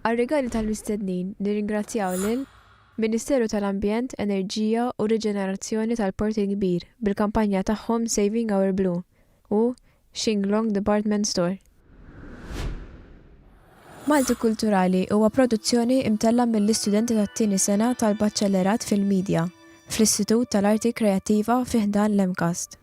Għar-rigali tal-mistednin nirringrazzjaw lil, Ministeru tal-Ambjent, Enerġija u Riġenerazzjoni tal-Port il-Kbir bil-kampanja tagħhom Saving Our Blue u Xinglong Department Store. Maltikulturali huwa produzzjoni imtella' mill-istudenti tat-tieni sena tal-Baċellerat fil-Midja fl-Istitut tal-Arti Kreattiva fi ħdan l-MCAST.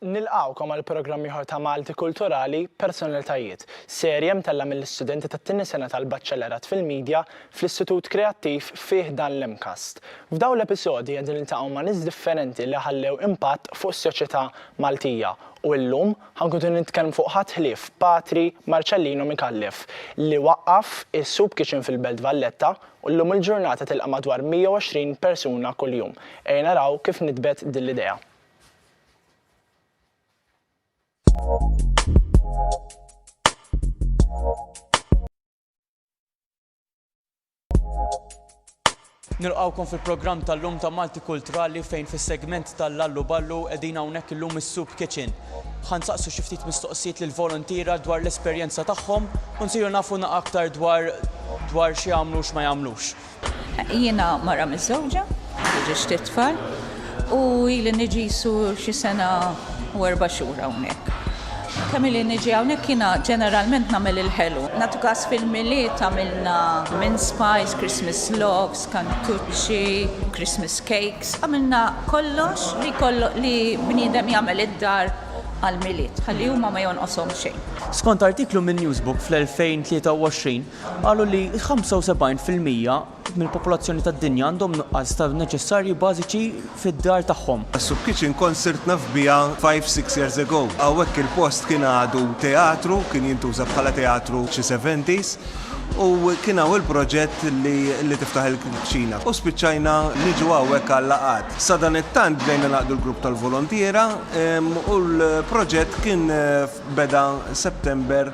Nilqgħukom għal programm ieħor ta' Malti Kulturali, Personalitajiet, serje mtellgħa mill-istudenti tat-tieni sena tal-Baċellerat fil-Media fl-Istitut Kreattiv fi ħdan l-MCAST. F'dawn l-episodji qegħdin niltaqgħu ma' nies differenti li ħallew impatt fuq is-soċjetà Maltija u illum ħankunu nitkellmu fuq ħadd ħlief Patri Marcellino Micallef li waqqaf is-Soup Kitchen fil-Belt Valletta u llum il-ġurnata tilqa' madwar 120 persuna kuljum. Ejja naraw kif nitbet din l-idea. Nilqawkom fil-programm tal-lum ta' Malti Kulturali fejn fis-segment tal-Lallu Ballu qegħdin hawnhekk illum is-Soup Kitchen. Ħan saqsu xi ftit mistoqsijiet lil voluntiera dwar l-esperjenza tagħhom u nsiru nafu aktar dwar dwar xi jagħmlu x'ma jagħmlux. Jiena mara miżżewġa, għandi ġiex tliet tfal, u ili niġi qisu xi sena u erba' xhur hawnhekk. Kemm ili niġi hawnhekk jiena ġeneralment nagħmel il-ħelu. Nagħtu każ fil-Milied għamilna mince pies, Christmas loaves, kantuċċi, Christmas cakes, għamilna kollox li li bniedem jagħmel id-dar għall-Milied, ħalli huma ma jonqoshom xejn. Skont artiklu minn Newsbook fl-2023, qalu li 75 fil-mija mill-popolazzjoni tad-dinja għandhom nuqqas ta' neċessarji bażiċi fid-dar tagħhom. Soup Kitchen kont sirt naf biha five, six years ago. Hawnhekk il-post kien għadu teatru, kien jintuża bħala teatru f'xi seventies, u kien hawn il-proġett li tiftaħ il-kċina. U spiċċajna niġu hawnhekk għal-laqgħat. Sadanittant bdejna nagħqdu l-grupp tal-volontiera u l-proġett kien beda September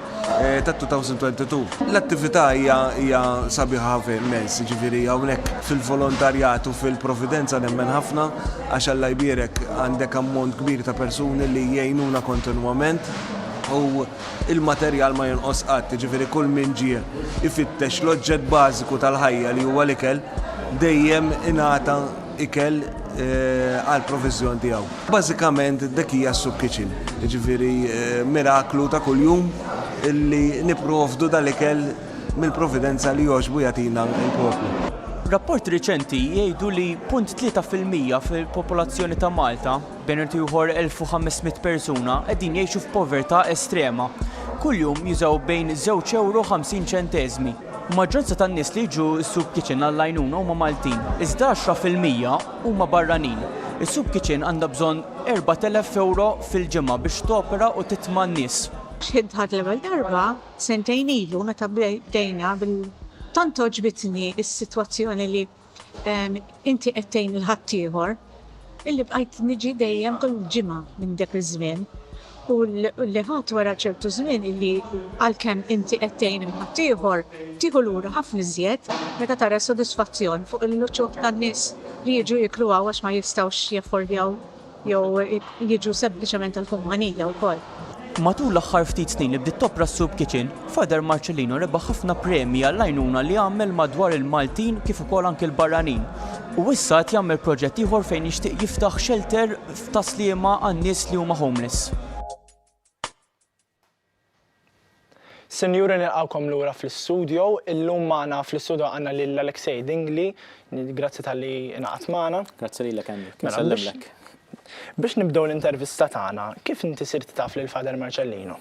tat-2022. L-attività hija hija sabiħa ħafna immens, jiġifieri hawnhekk fil-volontarjat u fil-providenza nemmen ħafna għax Alla jbierek għandek ammont kbir ta' persuni li jgħinuna kontinwament u l-materjal ma jonqos qatt, jiġifieri kull min ġie jfittex l-oġġett bażiku tal-ħajja li huwa l-ikel dejjem ingħata ikel għall-proviżjon tiegħu. Bażikament dik hija s-soup kitchen, jiġifieri miraklu ta' kuljum li nipprovdu dal-ikel mill-providenza li jogħġbu jagħtina l-poplu. Rapporti riċenti jgħidu li 0.3 fil-mija fil-popolazzjoni ta' Malta, bejn ieħor 1,500 persuna, qegħdin jgħixu f'povertà estrema. Kuljum jużaw bejn żewġ ewro u 50 ċenteżmi. Maġġoranza tan-nies li jiġu s-soup kitchen għall-għajnuna huma Maltin, iżda għaxra fil-mija huma barranin. Is-soup kitchen għandha bżonn 4,000 ewro fil-ġimgħa biex topera u titma' n-nies. X'ħin dħalt l-ewwel darba sentejn ilu meta bdejna bil-. Tant għoġbitni s-sitwazzjoni li Inti qed tgħin lil ħaddieħor, illi bqajt niġi dejjem kull ġimgħa minn dak iż-żmien, u li ħadt wara ċertu żmien illi għalkemm inti qed tgħin lil ħaddieħor, tieħu lura ħafna iżjed meta tara s-sodisfazzjon fuq l-uċuħ tan-nies li jiġu jieklu hawn għax ma jistgħux jaffordjaw jew jiġu sempliċement tal-kumpanija wkoll. Matul l-aħħar ftit snin li bdiet topra s-Soup Kitchen, Father Marcellino rebaħ ħafna premji għall-għajnuna li għamel madwar il-Maltin kif ukoll anki l-barranin. U issa qed jagħmel proġett ieħor fejn jixtieq jiftaħ xelter ta' sliema għan-nies li huma homeless. Sinjuri nilqgħukom lura fl-istudjo. Illum magħna fl-istudjo għandna lil Alexei Dingli. Grazzi talli ingħaqadt magħna. Grazzi lilek Andy. Kien mela, nsellimlek. Biex nibdew l-intervista tagħna, kif inti sirt taf lil Father Marcellino?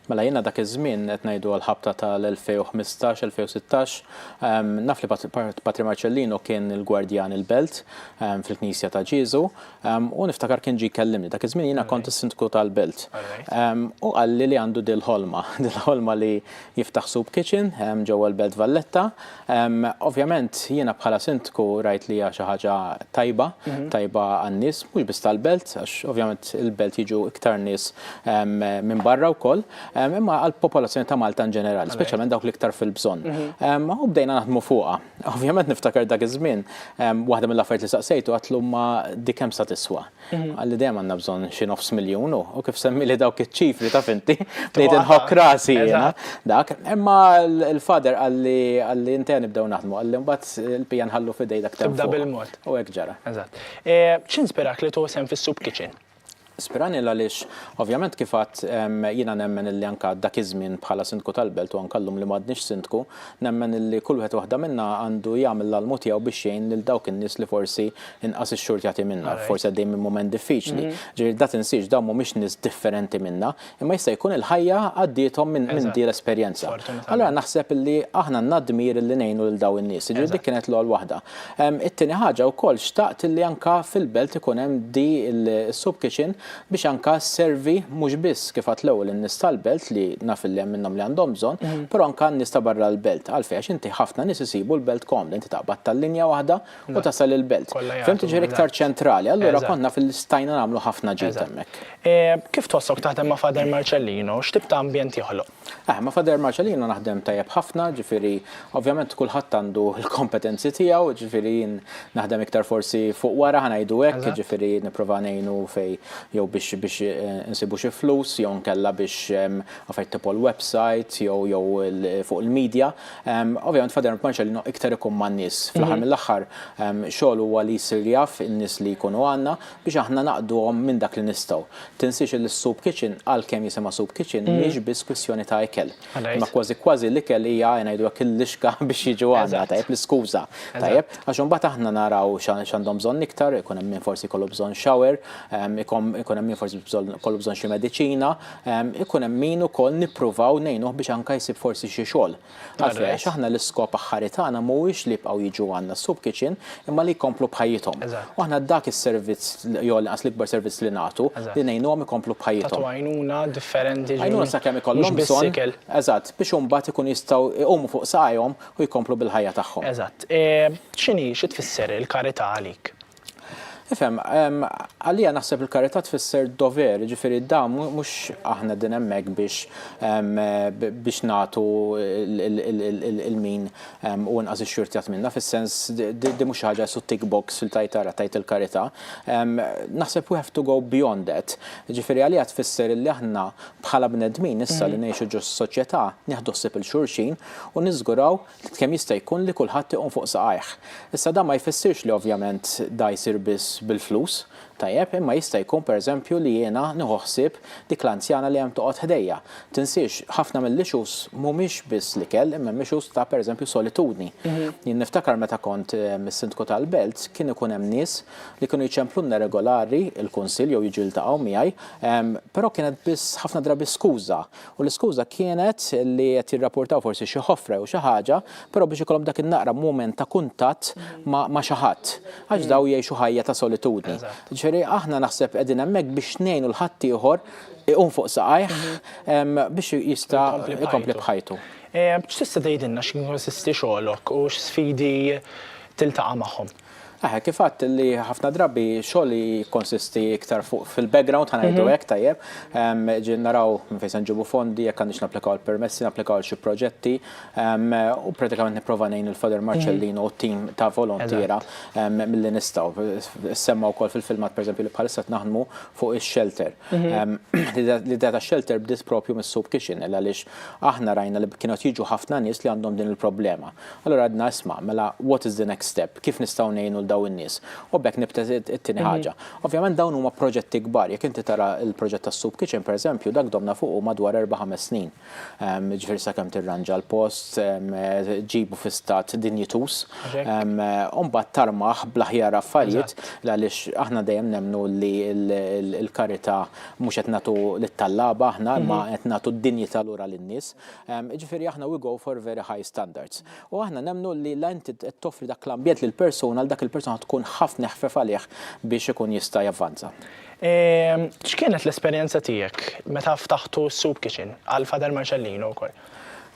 Mela jiena dak iż-żmien qed ngħidu għall-ħabta tal-2015, 2016, naf li Patri Marcellino kien il-gwardjan il-belt fil-Knisja ta' Ġieżu, U niftakar kien ġie jkellimni, dak iż-żmien jiena kont is-Sindku tal-Belt. U qalli li għandu dil ħolma, dil ħolma li jiftaħ soup kitchen ġewwa l-Belt Valletta. Ovvjament jiena bħala Sindku rajt li hija xi ħaġa tajba, tajba għan-nies mhux biss tal-Belt, għax ovvjament il-Belt jiġu iktar nies minn barra wkoll, imma għall-popolazzjoni ta' Malta in ġenerali, speċjalment dawk l-iktar fil-bżonn. U bdejna naħdmu fuqha. Ovvjament niftakar dak iż-żmien, waħda mill-affarijiet li saqsejtu għatlu ma dik kemm sa tiswa. Mhm. Għalli dejjem għandna bżonn xi nofs miljun u kif semmi li dawk iċ-ċifri ta' finti bdejt inħokk rasi jiena dak. Imma l-fader għalli għalli inti nibdew naħdmu għalli mbagħad il-pija nħallu fidej dak. Tibda bil-mod. U hekk ġara. Eżatt. E, x'inspirak li tuħsem fis-soup kitchen? Spiragna għaliex ovvjament kif għadt jiena nemmen illi anke dak iż-żmien bħala Sindku tal-Belt u anke llum li m'għadniex Sindku, nemmen illi kull wieħed waħda minna għandu jagħmel l-almu tiegħu biex jgħin lil dawk in-nies li forsi inqas ix-xurtjati minna, forsi għaddejjin minn mument diffiċli. Ġifieri da tinsiehx dawn mhumiex nies differenti minna, Imma jista' jkun il-ħajja għaddiethom minn minn din l-esperjenza. Fortunatament. Allura naħseb li aħna għandna d-dmir li ngħinu lil dawn in-nies. Jiġifieri dik Eżatt. kienet l-ewwel waħda. Ehm, It-tieni ħaġa wkoll xtaqt li anke fil-belt ikun hemm di l-soup kitchen biex anke sservi mhux biss kif għedt l-ewwel in-nies tal-belt li naf li hemm minnhom li għandhom bżonn, però anke għan-nies ta' barra l-belt. Għalfejn? Għax inti ħafna nies isibu l-belt komda. Inti taqbad tal-linja waħda, u tasal il-belt. Fim tiġi iktar ċentrali, allura konna fil-stajna nagħmlu ħafna ġid hemmhekk. Kif tossok taħdem ma' Father Marcellino? X'tip ta' ambjent joħloq? Aħ, ma' Father Marcellino naħdem tajjeb ħafna, ġifieri ovvjament kulħadd għandu l-kompetenzi tiegħu, ġifieri jien naħdem iktar forsi fuq wara ħa ngħidu hekk, ġifieri nipprova ngħinu fejn jew biex biex insibu xi flus jew inkella biex affarijiet tipo l-website jew jew fuq il-media. Ovvjament Father Mpanċa li noq iktar ikun ma' nies. Mhm. Fl-aħħar mill-aħħar xogħol huwa li jsir jaf in-nies li jkunu għandna biex aħna naqduhom minn dak li nistgħu. Tinsiex li s-soup kitchen għalkemm jisimha soup kitchen mhm. mhix biss kwistjoni ta' ikel. Ma kważi kważi l-ikel hija ngħidu hekk il-lixka biex jiġu għandna tajjeb l-iskuża. Tajjeb għax imbagħad aħna naraw x'għandhom bżonn iktar, ikun hemm min forsi kollu bżonn shower, ikun hemm min forsi kollu bżonn xi mediċina, ikun hemm min ukoll nippruvaw ngħinuh biex anke jsib forsi xi xogħol. Għalfejn? Għax aħna l-iskop aħħari tagħna mhuwiex li jibqgħu jiġu għandna s-soup kitchen imma li jkomplu b'ħajjithom. U aħna dak is-servizz jew lanqas l-ikbar servizz li nagħtu li ngħinuhom ikomplu b'ħajjithom. Tagħtu għajnuna differenti ġifieri. Għajnuna sakemm ikollhom bżonn. Mhux biss ikel. Eżatt, biex imbagħad ikunu jistgħu jqumu fuq saqajhom u jkomplu bil-ħajja tagħhom. Eżatt. X'inhi, xi tfisser il-karità għalik? Ifhem, għalija naħseb il-karità tfisser dover, ġifiri da mhux aħna din hemmhekk biex biex nagħtu il-min u nqas ix-xurtjat minna, fis-sens di mhux ħaġa su tick box li tajt ara tajt il-karità. Naħseb we have to go beyond that. Ġifiri għalija tfisser li aħna bħala bnedmin issa li ngħixu ġo soċjetà nieħdu ħsieb il-xulxin u niżguraw kemm jista' jkun li kulħadd iqum fuq saqajh. Issa dan ma jfissirx li ovvjament da jsir biss bil-flus, tajjeb, imma jista' jkun pereżempju li jiena nieħu ħsieb dik l-anzjana li hemm toqgħod ħdejja. Tinsiex, ħafna mill-issues mhumiex biss l-ikel imma hemm issues ta' pereżempju solitudni. Jien niftakar meta kont is-Sindku tal-Belt kien ikun hemm nies li kienu jċemplulna regolari l-Kunsill jew jiġu jiltaqgħu miegħi, però kienet biss ħafna drabi skuża U l-iskuża kienet li qed jirrapportaw forsi xi ħofra jew xi ħaġa, però biex ikollhom dak in-naqra mument ta' kuntatt ma' xi ħadd. Għax dawn jgħixu ħajja ta' solitudni. Ġifieri aħna naħseb qegħdin hemmhekk biex ngħinu 'l ħaddieħor iqum fuq saqajh biex jista' jkompli b'ħajtu. X'tista' tgħidilna x'inkonsisti xogħlok u x'sfidi tiltaqa' magħhom? Aha, kif għadt li ħafna drabi xogħol jikkonsisti iktar fuq fil-background ħanajdu hekk tajjeb, ġin naraw minn fejn se nġibu fondi, jekk għandix napplikaw il-permessi, napplikaw għal xi proġetti, u pratikament nipprova ngħin lil Father Marcellino u t-tim ta' volontiera milli nistgħu. Issemma wkoll fil-filmat pereżempju li bħalissa qed naħdmu fuq ix-shelter. L-idea tax-shelter bdiet proprju mis-soup kitchen għaliex aħna rajna li kienu qed jiġu ħafna nies li għandhom din il-problema. Allura għedna isma', mela what is the next step, kif nistgħu ngħinu 'l dawn in-nies? U b'hekk nibta' it-tieni ħaġa. Ovvjament dawn huma proġetti kbar, jekk inti tara l-proġett tas-soup kitchen pereżempju, dak domna fuqu madwar erba' ħames snin. Jiġifieri sakemm tirranġa l-post, ġġibu fi stat dinjituż, u mbagħad tarmah bl-aħjar affarijiet għaliex aħna dejjem nemmnu li l-karità mhux qed nagħtu lit-tallaba aħna imma qed nagħtu d-dinjità lura lin-nies. Jiġifieri aħna we go for very high standards. U aħna nemmnu li la inti qed toffri dak l-ambjent lil persuna li dak il-persuna tkun ħaft neħfef għalih biex ikun jista' javvanza. X'kienet l-esperjenza tiegħek meta ftaħtu s-Soup Kitchen, għal Father Marcellino wkoll?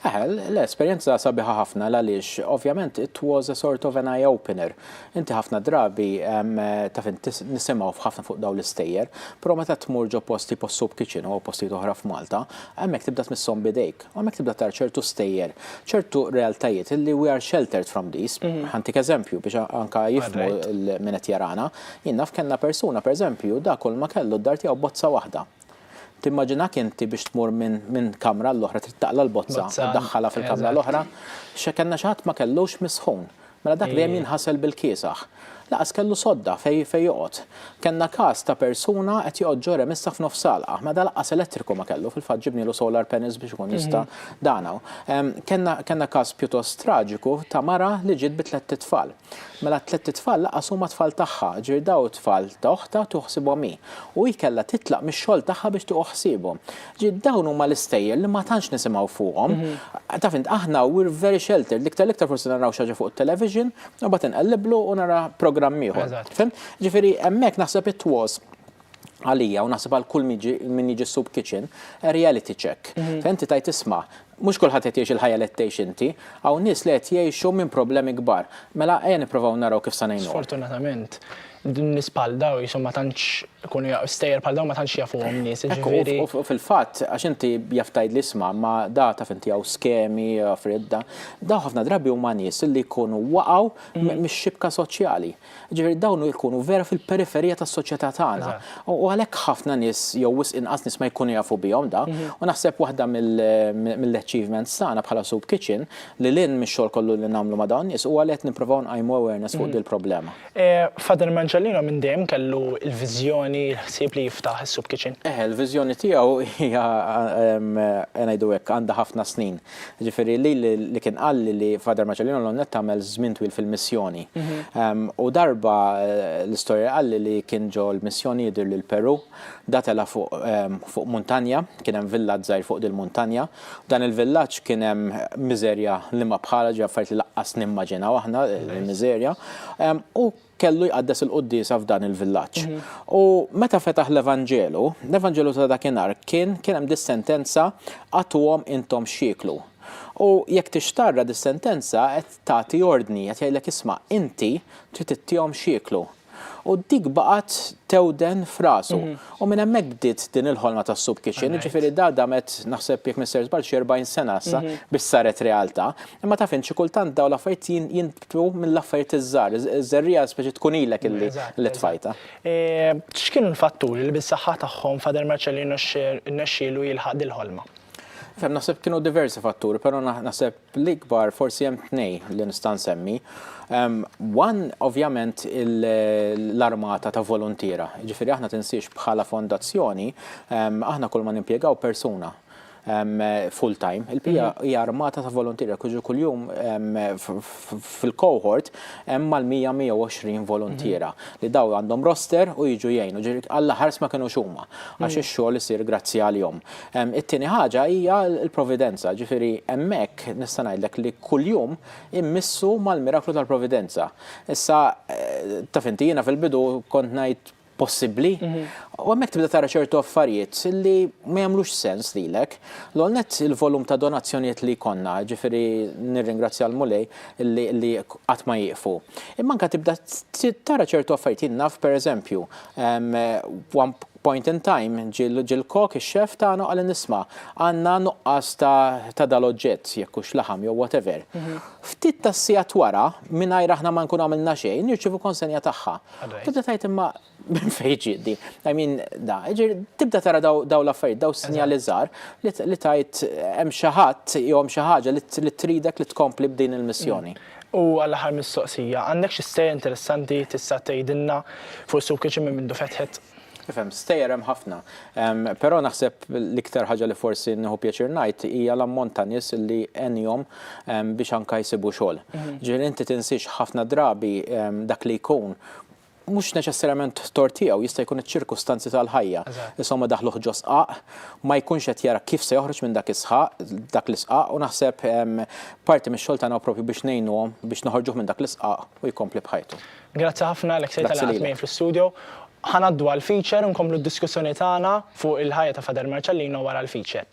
Le, esperjenza sabiħa ħafna l-għaliex ovvjament it was a sort of an eye opener. Inti ħafna drabi taf int nisimgħu ħafna fuq dawn l-istejjer, però meta tmur ġo post tipo s-Soup Kitchen u postijiet oħra f'Malta, Hemmhekk tibda tmisshom b'idejk, u hemmhekk tibda tara ċertu stejjer, ċertu realtajiet illi we are sheltered from these. Ħantik eżempju biex anke jifhmu min qed jarana. Jien naf kellna persuna pereżempju dak kull ma kellu d-dar tiegħu bozza waħda. Timmaġinak inti biex tmur minn kamra għall-oħra trid taqla' l-bozza u ddaħħalha fil-kamra l-oħra. Kellna xi ħadd ma kellux misħun. Mela dak dejjem jinħasel bil-kiesaħ. Lanqas kellu sodda fejn fejn joqgħod. Kellna każ ta' persuna qed joqgħod ġo remissa f'nofs salqa. Mela da lanqas elettriku ma kellu, fil-fatt ġibnielu solar panels biex ikun jista' dan hawn. Kellna kellna każ pjuttost traġiku ta' mara li ġiet bi tlett itfal. Mela t-tlett itfal lanqas huma tfal tagħha, ġifieri dawn it-tfal ta' oħtha tieħu ħsiebhom hi. U hi kellha titlaq mix-xogħol tagħha biex tieħu ħsiebhom. Dawn huma l-istejjer li ma tantx nisimgħu fuqhom. Taf int aħna we're very sheltered, l-iktar l-iktar forsi naraw xi ħaġa fuq it-television, u bagħad inqelliblu u nara programm ieħor. Fimt? Ġifieri hemmhekk naħseb it was għalija u naħseb għal kull min jiġi soup kitchen, reality check. Fejn inti tgħid isma', Mhux kulħadd qed jgħix il-ħajja li qed tgħix inti. Hawn nies li qed jgħixu minn problemi kbar. Mela ejja nipprovaw naraw kif sa ngħinuhom. Sfortunatament, nies bħal dawn qishom ma tantx ikunu jafu, stejjer bħal dawn ma tantx jafuhom nies, jiġifieri. Ekku, u fil-fatt, għax inti jaf tgħidli isma', imma da taf inti hawn skemi, affarijiet da. Dawn ħafna drabi huma nies li jkunu waqgħu mix-xibka soċjali. Ġifieri dawn jkunu vera fil-periferija tas-soċjetà tagħna. U għalhekk ħafna nies jew wisq inqas nies ma jkunu jafu bihom da. U naħseb waħda mill-achievements tagħna bħala Soup Kitchen, lil hinn mix-xogħol kollu li nagħmlu ma' dawn nies, huwa li qed nipprovaw nqajmu awareness fuq dil-problema. Father Marcellino minn dejjem kellu l-viżjoni, l-ħsieb li jiftaħ is-Soup Kitchen? Eħe, l-viżjoni tiegħu hija, ngħidu hekk, għandha ħafna snin. Ġifieri lili li kien qalli li Father Marcellino Lonnet għamel żmien twil fil-missjoni. U darba l-istorja qalli li kien ġo l-missjoni jidhirli l-Peru, datela fuq muntanja, kien hemm villaġġ żgħir fuq dil-muntanja. Dan il-villaġġ kien hemm miżerja li ma bħalha, ġifieri affarijiet li laqqas nimmaġinaw aħna, il-miżerja. U kellu jqaddes il-quddiesa f'dan il-villaġġ. U meta fetaħ l-Evanġelu, l-Evanġelu ta' dakinhar kien kien hemm dis-sentenza agħtuhom intom x'jieklu. U jekk tixtarra dis-sentenza qed tagħti ordni, qed jgħidlek isma' inti trid ittihom x'jieklu. U dik baqgħet tewden f'rasu. U minn hemmhekk bdiet din il-ħolma tas-soup kitchen, jiġifieri da damet naħseb jekk m'issirx żball xi 40 sena issa biex saret realtà. Imma taf int xi kultant dawn l-affarijiet jien Hu mill-affarijiet iż-żgħar, iż-żerriegħa speċi tkun ilek illi tfajta. X'kienu l-fatturi li bis-saħħa tagħhom Father Marcelli rnexxielu jilħaq dil-ħolma? Fem naħseb kienu diversi fatturi, però naħseb l-ikbar forsi hemm tnej li nista' nsemmi. One ovvjament l-armata ta' voluntiera. Jiġifieri aħna tinsiex bħala fondazzjoni aħna kull ma nimpjegaw persuna full time. Il-PA hija armata ta' voluntieri jekk jiġu kuljum fil-cohort hemm mal-100-120 voluntiera li daw għandhom roster u jiġu jgħinu. Ġifieri Alla ħares ma kinux huma għax ix-xogħol isir grazzi għalihom. It-tieni ħaġa hija l-providenza, ġifieri hemmhekk nista' ngħidlek li kuljum immissu mal-miraklu tal-providenza. Issa taf inti jiena fil-bidu kont ngħid possibbli. U hemmhekk tibda tara ċertu affarijiet li ma jagħmlux sens lilek. L-għol net il-volum ta' donazzjonijiet li konna, ġifieri nirringrazzja l-Mulej li qatt ma jieqfu. Imma anke tibda tara ċertu affarijiet naf pereżempju point in time ġil-kok ix-xef tagħna qal nisma' għandna nuqqas ta' dal-oġġett jekk hux laħam jew whatever. Ftit tas-sigħat wara mingħajr aħna ma nkunu għamilna xejn nirċievu konsenja tagħha. Tibda tajt imma minn fejn ġiet din. I mean, da, tibda tara daw l-affarijiet, daw sinjali żgħar li tajt hemm xi ħadd jew hemm xi ħaġa li tridek li tkompli b'din il-missjoni. U għal aħħar mistoqsija, għandek xi storja interessanti tista' tgħidilna forsi wkoll xi minn mindu fetħet? Nifhem, stejjer hemm ħafna. Però naħseb l-iktar ħaġa li forsi nieħu pjaċir ngħid hija l-ammont ta' nies li għenihom biex anke jsibu xogħol. Ġifieri inti tinsiex ħafna drabi dak li jkun mhux neċessarjament tort tiegħu, jista' jkun iċ-ċirkustanzi tal-ħajja. Insomma daħluh ġo sqaq, ma jkunx qed jara kif se joħroġ minn dak is-sħaq, dak l-isqaq u naħseb parti mix-xogħol tagħna propju biex ngħinuhom biex noħorġuh minn dak l-isqaq u jkompli b'ħajtu. Grazzi ħafna Alexei tal-li Grazzi qgħadt lilek. miegħi fl-istudio. Ħa ngħaddu għall-feature u nkomplu d-diskussjoni tagħna fuq il-ħajja ta' Father Marcellino wara l-feature.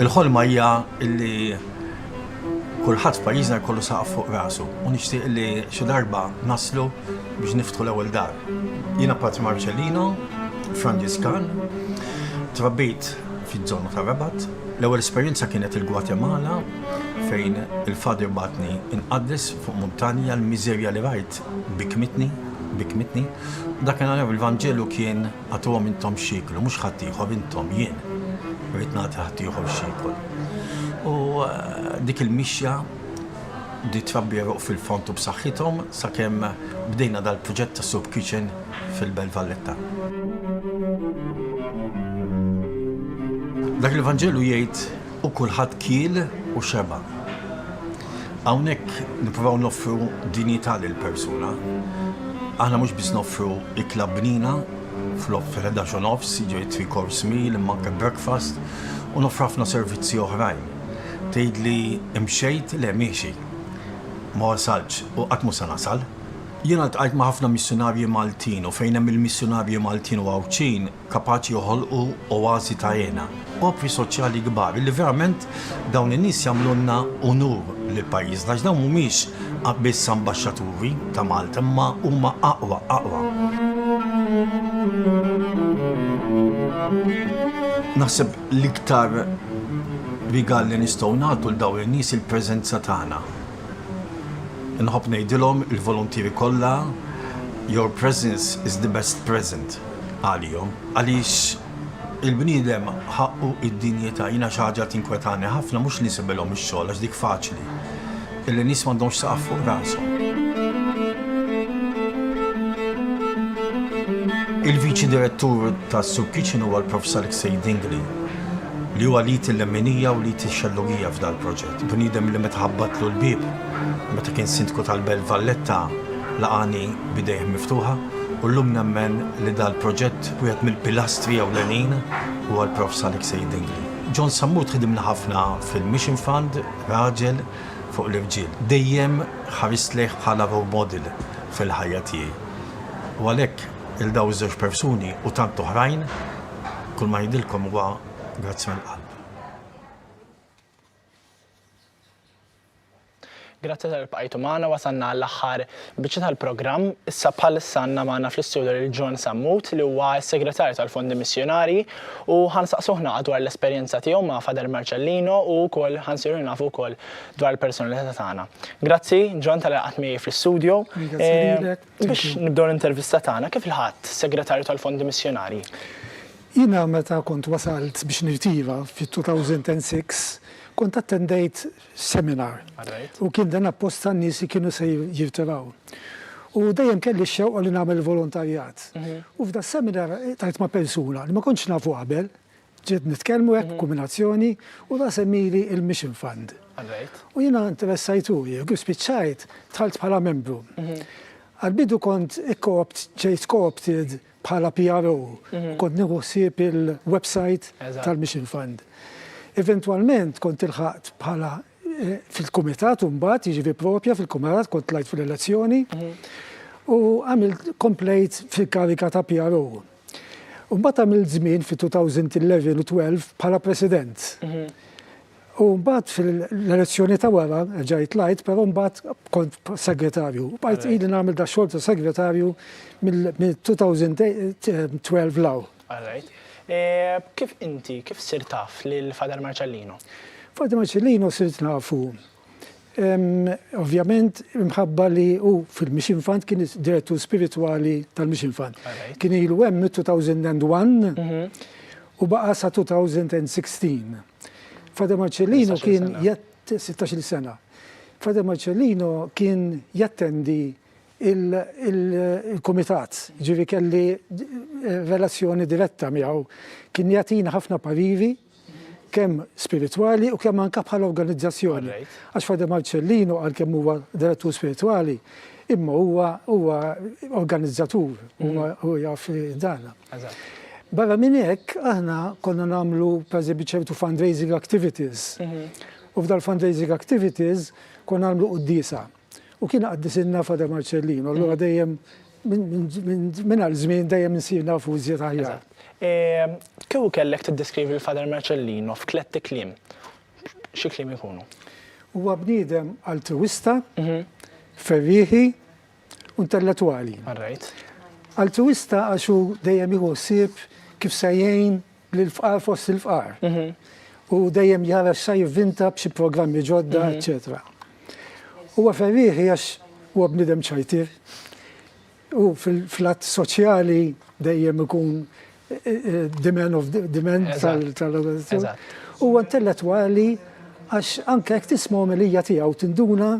Il-ħolma hija li kulħadd f'pajjiżna jkollu saqaf fuq rasu u nixtieq li xi darba naslu biex niftħu l-ewwel dar. Jiena Patri Marcellino, Franġiskan, trabbit fiż-żona tar-Rabat. L-ewwel esperjenza kienet il-Gwatemala fejn il-Father bagħatni inqaddes fuq muntanja, l-miżerja li rajt bikkmitni, bikkmitni. Dakinhar il-Vanġelu kien, Agħtuhom intom x'jieklu, mhux ħaddieħor, intom, jien rrid nagħti ħaddieħor x'jiekol. U dik il-mixja bdiet trabbi għeruq fil-fond u b'saħħithom sakemm bdejna dal-proġett tas-soup kitchen. fil-Belt Valletta. Dak il-Vanġelu jgħid u kulħadd kiel u xeba'. Hawnhekk nippruvaw noffru dinjità lill-persuna. Aħna mhux biss noffru ikla bnina flok fil-11 u nofs, jiġri three course meal, imma anke breakfast u noffru ħafna servizzi oħrajn. Tgħidli imxejt, le miexi. Ma wasaltx u qatt mhux se nasal. Jiena ltqajt ma' ħafna missjunarji Maltin u fejn hemm il-missjunarji Maltin u Għawdxin kapaċi joħolqu oasi ta' hena, opri soċjali kbar illi verament dawn in-nies jagħmlulna unur lil pajjiżna għax dawn mhumiex biss ambaxxaturi ta' Malta imma huma aqwa, aqwa. Naħseb l-iktar rigal li nistgħu nagħtu lil dawn in-nies hi l-preżenza tagħna. Inħobb ngħidilhom il-voluntieri kollha your presence is the best present għalihom għaliex il-bniedem ħaqqu d-dinjità. Jiena xi ħaġa tinkwetani ħafna mhux li nsibilhom ix-xogħol għax dik faċli, illi n-nies m'għandhomx saqaf fuq rashom. Il-Viċi Direttur ta' Soup Kitchen huwa l-Profs Alexei Dingli li huwa lead il-lemminija u lead ix-xellugija f'dal-proġett. Bniedem li meta ħabbatlu l-bieb meta kien Sindku tal-Belt Valletta laqagħni b'idejh miftuħa u llum nemmen li dal-proġett wieħed mill-pilastri ewlenin huwa l-Prof. Salik Sejid Dingli. John Sammut ħdimna ħafna fil-Mission Fund, raġel fuq l-irġiel. Dejjem ħarist lejh bħala role model fil-ħajja tiegħi. U għalhekk il dawn iż-żewġ persuni u tant oħrajn, kull ma ngħidilkom huwa grazzi mill-qalb. Grazzi tal-li bqajtu magħna, wasalna għall-aħħar biċċa tal-programm. Issa bħalissa għandna magħna fl-istudju lil John Sammut li huwa s-Segretarju tal-Fondi Missjunarji u ħansaqsuh naqa' dwar l-esperjenza tiegħu ma' Father Marcellino u wkoll ħansiru nafu wkoll dwar il-personalità tagħna. Grazzi John tal-li laqgħet miegħi fl-istudju. Grazzi lilek. Biex nibdew l-intervista tagħna, kif ilħaqt Segretarju tal-Fondi Missjonarji? Jiena meta kont wasalt biex nirtira fit-2006, kont attendejt seminar. U kien dan apposta n-nies li kienu se jirtiraw. U dejjem kelli x-xewqa li nagħmel volontarjat. U f'das-seminar tajt ma' persuna li ma kontx nafu qabel, Bdejt nitkellmu hekk b'kuminazzjoni u ta' semmili il-Mission Fund. U jiena interessajt u jekk kif spiċċajt dħalt bħala membru. Għall-bidu kont ġejt co-opted bħala PRO u kont nieħu ħsieb il-websajt tal-Mission Fund. Eventwalment kont ilħaqt bħala fil-kumitat u mbagħad jiġifieri proprja fil-kumitat kont tlajt fil-elezzjoni u għamilt komplejt fil-kariga ta' PRO. Mbagħad għamilt żmien fit-2011 u 12 bħala President. U mbagħad fil-elezzjoni ta' wara ġajt lajt, però mbagħad kont segretarju. Bajt ili nagħmel da xogħol ta' segretarju mill-2012 law. All right. E, kif inti, kif sir taf lil Father Marcellino? Father Marcellino sirt nafu Ovvjament, imħabba li hu fil-Mission Fund kien direttur spiritwali tal-Mission Fund. Kien ilu hemm 2001 mhm. u baqa sa 2016. Fada Marcellino kien 16 sena. Fada Marcellino kien jattendi il-komitat, ġivi kelli eh, relazzjoni diretta miegħu. Kien jatina ħafna pariri kemm spiritwali u kemm anke bħala organizzazzjoni. Għax Father Marcellino għalkemm huwa direttur spiritwali, imma huwa huwa organizzatur, huwa mhm. huwa jaf dan. Barra minn hekk aħna konna nagħmlu pereżempju ċertu fundraising activities. Mhm. U f'dal fundraising activities konna nagħmlu qudiesa. U kien qaddisilna Father Marcellino, allura dejjem minn għal żmien dejjem insir nafu iżjed aħjar. Kieku kellek tiddeskrivi l-Father Marcellino f'tletti kliem, xi kliem ikunu? Huwa bniedem altruwista, mhm. ferrieħi, intellettwali. Altruwista għax hu dejjem jieħu ħsieb kif se jgħin Lill-fqar fost il-fqar. U dejjem jħares sa jivvinta b'xi programmi ġodda, eċċetera. Huwa ferrieħi għax huwa bniedem ċajtier. U fil-flat soċjali dejjem ikun demand of demand tal-organizzazzjoni. Huwa intellettwali għax anke jekk tisma' omelija tiegħu tinduna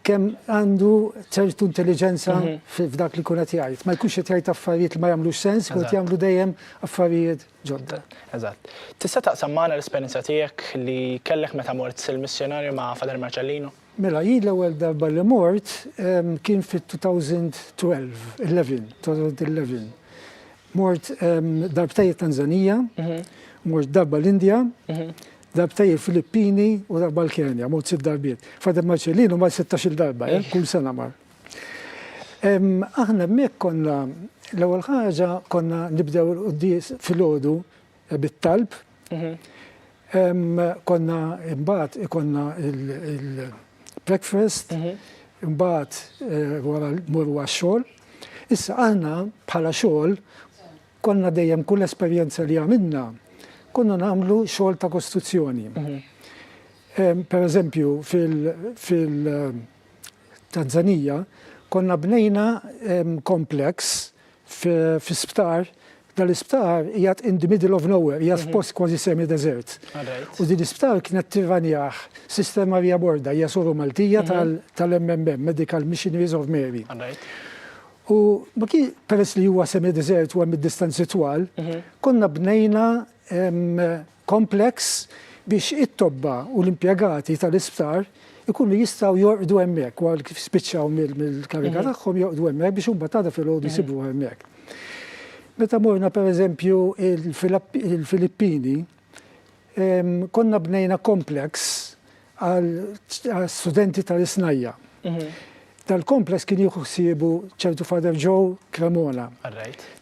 kemm għandu ċertu intelliġenza f'dak li jkun qed jgħid. Ma jkunx qed jgħid affarijiet li ma jagħmlux sens, jkun qed jagħmlu dejjem affarijiet ġodda. Eżatt. Tista' taqsam magħna l-esperjenza tiegħek li kellek meta mort sir missjonarju ma' Father Marcellino? Mela, jien l-ewwel darba li mort kien fit-2012, 11, 2011. Mort darbtejn it-Tanzanija, mort darba l-Indja, Darbtej il-Filippini u darba l-Kenja, mod sitt darbiet. Father Marcellino mar sittax-il darba, eh, kull sena mar. Aħna hemmhekk konna l-ewwel ħaġa konna nibdew il-quddies filgħodu eh, bit-talb. Mhm. Konna imbagħad ikonna il-breakfast, mhm. imbagħad eh, wara mur għax-xogħol. Issa aħna bħala xogħol Konna dejjem kull esperjenza li għamilna konna nagħmlu xogħol ta' kostruzzjoni. Per eżempju fil-Tanzanija konna bnejna complex fi sptar, dal-isptar qiegħed in the middle of nowhere, qiegħed f'post kważi semi-deżert. U din l-isptar kienet tirranjah Sister Maria Borda, hija Soru Maltija tal-MMM, Medical Missionaries of Mary. U baki peress li huwa semi desert u hemm id-distanzi twal, konna bnejna kompleks biex it-tobba u l-impjegati tal-isptar ikunu jistgħu jorqdu hemmhekk wara kif spiċċaw mill-kariga tagħhom jorqdu hemmhekk biex imbagħad għada filgħodu jsibuha hemmhekk. Meta morna pereżempju il-Filippini, Konna bnejna kompleks għal studenti tal-isnajja. Mhm. Tal-kompleks kien jieħu ħsiebu ċertu Father Joe Cremona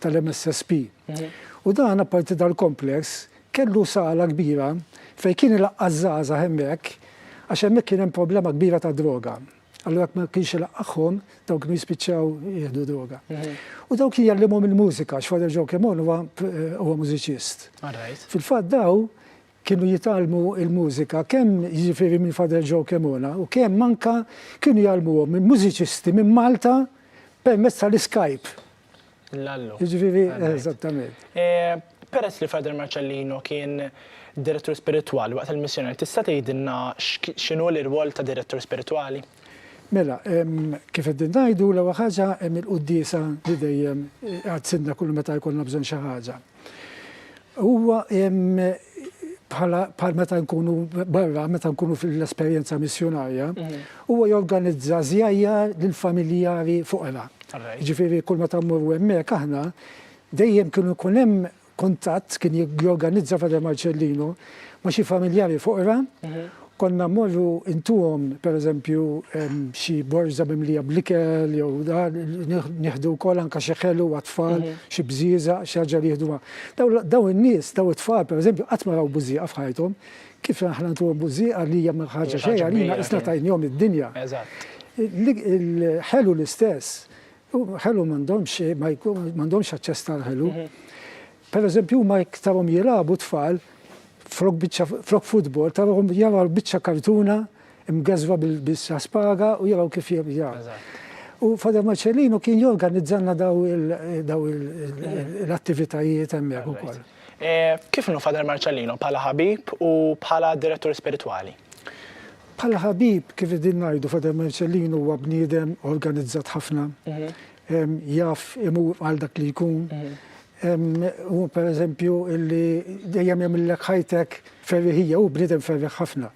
tal-MSSP. Mhm. U dan apparti dal-kompleks kellu sala kbira fejn kien il-qażżaża hemmhekk għax hemmhekk kien hemm problema kbira ta' droga. Allura jekk ma kienx ilaqqagħhom, dawn kienu jispiċċaw jieħdu droga. U daw kien jallimhom il-mużika, għax Father Joe Cremon huwa huwa mużiċist. Fil-fatt daw kienu jitgħallmu il-mużika kemm jiġifieri minn Father Joe Cremona u kemm manka kienu jgħallmuhom minn mużiċisti minn Malta permezz tal-Skype. Lallu. Ġviri, eżattament. Eh, peress li Frader Marcellino kien direttur spirituali waqt il-missjoni, tista' tgħidilna x'inhu l-irwol ta' direttur spirituali? Mela, kif qed ngħidu l-ewwel ħaġa hemm il-qudiesa li dejjem għad eh, sinna kull meta jkollna bżonn xi ħaġa. Huwa bħala bħal meta nkunu barra, meta nkunu fil-esperjenza missjunarja, huwa jorganizza żjajjar lill-familjari foqra. Ġifieri kull meta mmorru hemmhekk aħna, dejjem kienu jkun hemm kuntatt, kien jorganizza Father Marcellino ma' xi familjari foqra Konna mmorru intuhom pereżempju xi borża mimlija bl-ikel jew dan, nieħdu wkoll anke xi ħelu għat-tfal, xi bżieżaq, xi ħaġa li jieħdu ma'. Dawn in-nies, dawn it-tfal pereżempju qatt ma raw bużieqa f'ħajthom, kif aħna ntuhom bużieqa li hija ma ħaġa xejn għalina qisna tajnihom id-dinja. Il-ħelu l-istess, ħelu m'għandhomx, m'għandhomx aċċess tal-ħelu. Pereżempju huma jekk tarhom jilagħbu t-tfal, Flok biċċa flok futbol tarahom jaraw biċċa kartuna mgeżwa bis-spaga u jaraw kif jibża. U Father Marcellino kien jorganizzalna daw l-attivitajiet hemmhekk ukoll. Kif inhu Father Marcellino bħala ħabib u bħala direttur spiritwali? Bħala ħabib kif qegħdin ngħidu Father Marcellino huwa bniedem organizzat ħafna, jaf imur għal dak li jkun, Hu pereżempju li dejjem jagħmillek ħajtek ferriħija, hu bniedem ferriħ ħafna.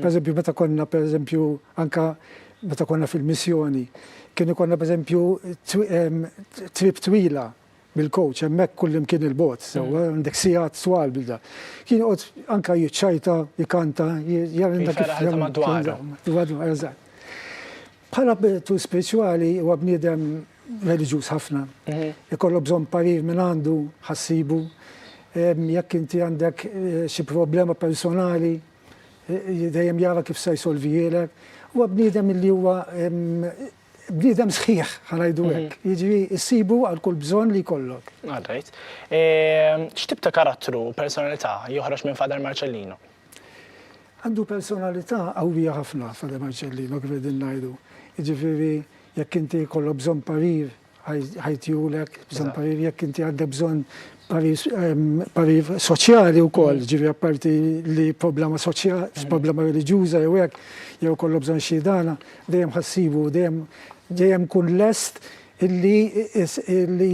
Pereżempju meta konna pereżempju anka meta konna fil-missjoni, kien ikollna pereżempju trip twila bil-coach hemmhekk kullimkien il-bogħod, sewwa għandek sigħat twal bil da. Kien joqgħod anka jiċċajta, jkanta, jagħmel dak il-ferħ madwaru. Madwaru, eżatt. Bħala btu spirituali huwa bniedem reliġjuż ħafna. Ikollu bżonn parir minn għandu, ħassibu. Jekk inti għandek eh, xi problema personali, eh, dejjem jara kif se jsolvijielek. Huwa bniedem li huwa bniedem sħiħ ħanajdu mhm. hekk. Jiġri issibu għal kull bżonn li jkollok. Għadajt. Ehm, x'tib ta' karattru, personalità joħroġ minn Fader Marcellino? Għandu personalità qawwija ħafna Fade Marcellino kif qegħdin ngħidu. Jiġifieri jekk inti jkollok bżonn parir ħajtihulek, bżonn parir jekk inti għandek bżonn parir soċjali wkoll, mm. ġifieri apparti li problema soċjali, mm. problema reliġjuża jew hekk, jew kollok bżonn xi dana, dejjem ħassibu, dejjem dejjem kun lest li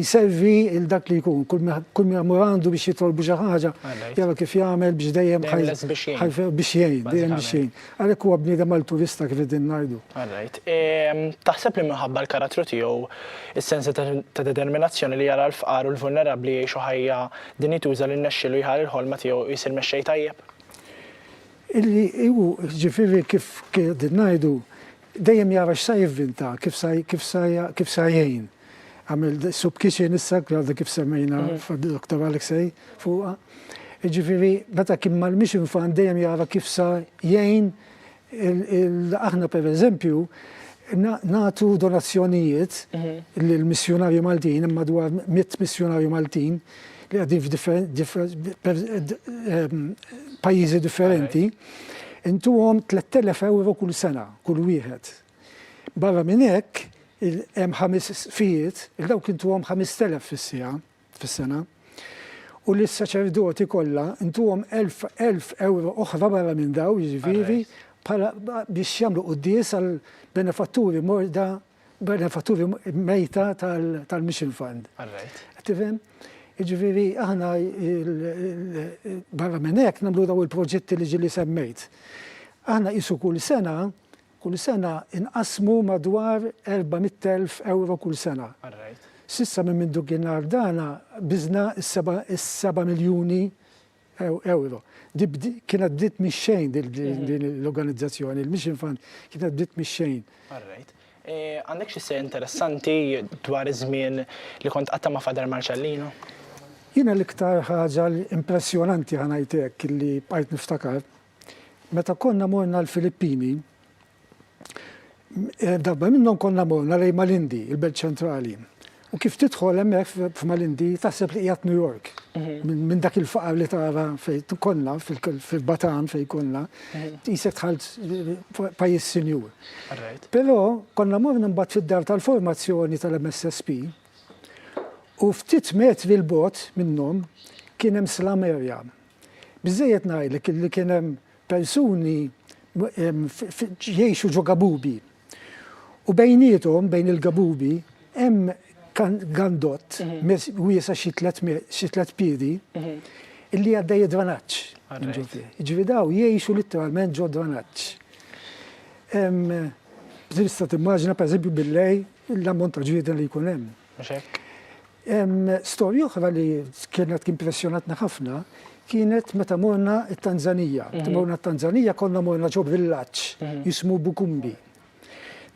jservi lil dak li jkun, kull min imur għandu biex jitolbu xi ħaġa, jara kif jagħmel biex dejjem biex jgħin, dejjem biex jgħin. Għalhekk huwa bniedem alturista kif qegħdin ngħidu. Taħseb li minħabba l-karattru tiegħu, is-sens ta' determinazzjoni li jara l-fqar u l-vulnerabbli jgħixu ħajja dinjituża li rnexxielu jħari l-ħolma tiegħu u jsir mexxej tajjeb? Illi hu, jiġifieri kif qegħdin ngħidu, dejjem jara x'sa jivvinta, kif sa kif sa kif sa jgħin. Għamel soup kitchen issa, għadha kif semmejna f'Doktor Alexei fuqha. Jiġifieri meta kien ma mhix infant dejjem jara kif sa jgħin aħna pereżempju nagħtu donazzjonijiet lill-missjunarji Maltin, hemm madwar mitt missjunarju Maltin li għaddin f'pajjiżi differenti, intuhom 3,000 ewro kull sena, kull wieħed. Barra minn hekk, hemm ħames sfijiet, lil dawk intuhom 5,000 fis-siegħa, fis-sena, u lis-saċerdoti kollha intuhom 1,000 ewro oħra barra minn dawn, jiġifieri, bħala biex jagħmlu quddies għall-benefatturi morda benefatturi mejta tal-Mission Fund. Qed tifhem? Jiġifieri aħna barra minn hekk nagħmlu dawn il-proġetti li ġieli semmejt. Aħna qisu kull sena, kull sena inqassmu madwar 400,000 ewro kull sena. S'issa minn mindu kien għal dana biżna s-seba' miljuni Ewro. Kienet bdiet mix-xejn din l-organizzazzjoni, il-Mission Fund kienet bdiet mix-xejn. Alright. Għandek xi se interessanti dwar iż-żmien li kont qatta' ma' Father Marcellino? Jiena l-iktar ħaġa impressjonanti ħa ngħid hekk li bqajt niftakar, meta konna morna l-Filippini, Darba minnhom konna morna lejn Malindi, il-belt ċentrali. U kif tidħol hemmhekk f'Malindi taħseb li qiegħed New York. Mhm. Minn dak il-faqar li tara fejn konna fil-Batan fejn konna, mhm. tisek tħalt pajjiż sinjur. Però konna morna mbagħad fid-dar tal-formazzjoni tal-MSSP u ftit metri l-bot minnhom kien hemm slam area. Biżejjed ngħidlek li kien hemm persuni jgħixu ġo gabubi u bejniethom, bejn il-gabubi, hemm gandott wiesa' xi tliet piedi li għaddej id-dranaġġ. Jiġifieri dawn jgħixu litteralment ġo dranaġġ. Tista' timmaġina pereżempju bil-lejl l-ammont ta' ġrieden li jkun hemm. mhux hekk? Storja oħra li kienet impressjonatna ħafna kienet meta morna t-Tanzanija. Meta morna t-Tanzanija konna morna ġo villaġġ mhm. jismu Bukumbi.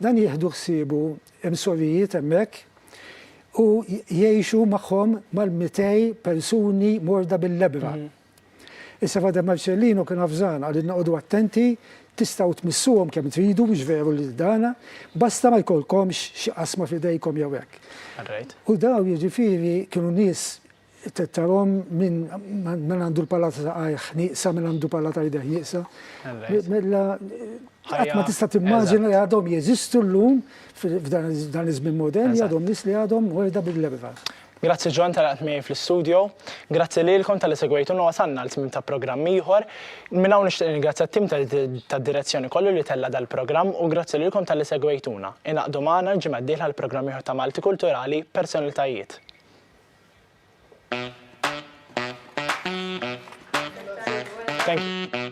Dan jieħdu ħsiebu hemm sorijiet hemmhekk u jgħixu magħhom mal-200 persuni morda bil-lebra. Mhm. Is-Sefgħa De Marcellino kien avżan, qalilna qogħdu attenti, tistgħu tmissuhom kemm tridu, mhux veru li ddana, basta ma jkollkomx xi qasma f'idejkom jew hekk. U dawn jiġifieri kienu nies tarhom min għandu l-pala ta' saqajh nieqsa, min għandu pala ta' jdejh nieqsa. Mela qatt ma tista' timmaġina li għadhom jeżistu llum f'dan iż-żmien modern li għadhom nies li għadhom morda bil-erba'. Grazzi John ta' li qgħadt miegħi fl-istudio. Grazzi lilkom talli segwejtuna u wasalna għal tmiem ta' programm ieħor. Minn hawn nixtieq ningrazzja t-tim tad-direzzjoni kollu li tella' dal-programm u grazzi lilkom talli segwejtuna. Ingħaqdu magħna l-ġimgħa d-dieħla għal programm ieħor ta' Malti Kulturali, Personalitajiet. Thank you.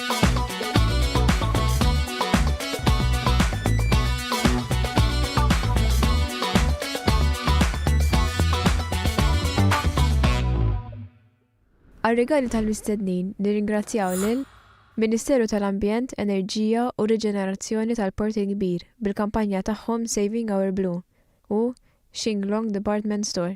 Għar-rigali tal-mistednin nirringrazzjaw lil Ministeru tal-Ambjent, Enerġija u Riġenerazzjoni tal-Port il-Kbir bil-kampanja tagħhom Saving Our Blue u Shinglong Department Store.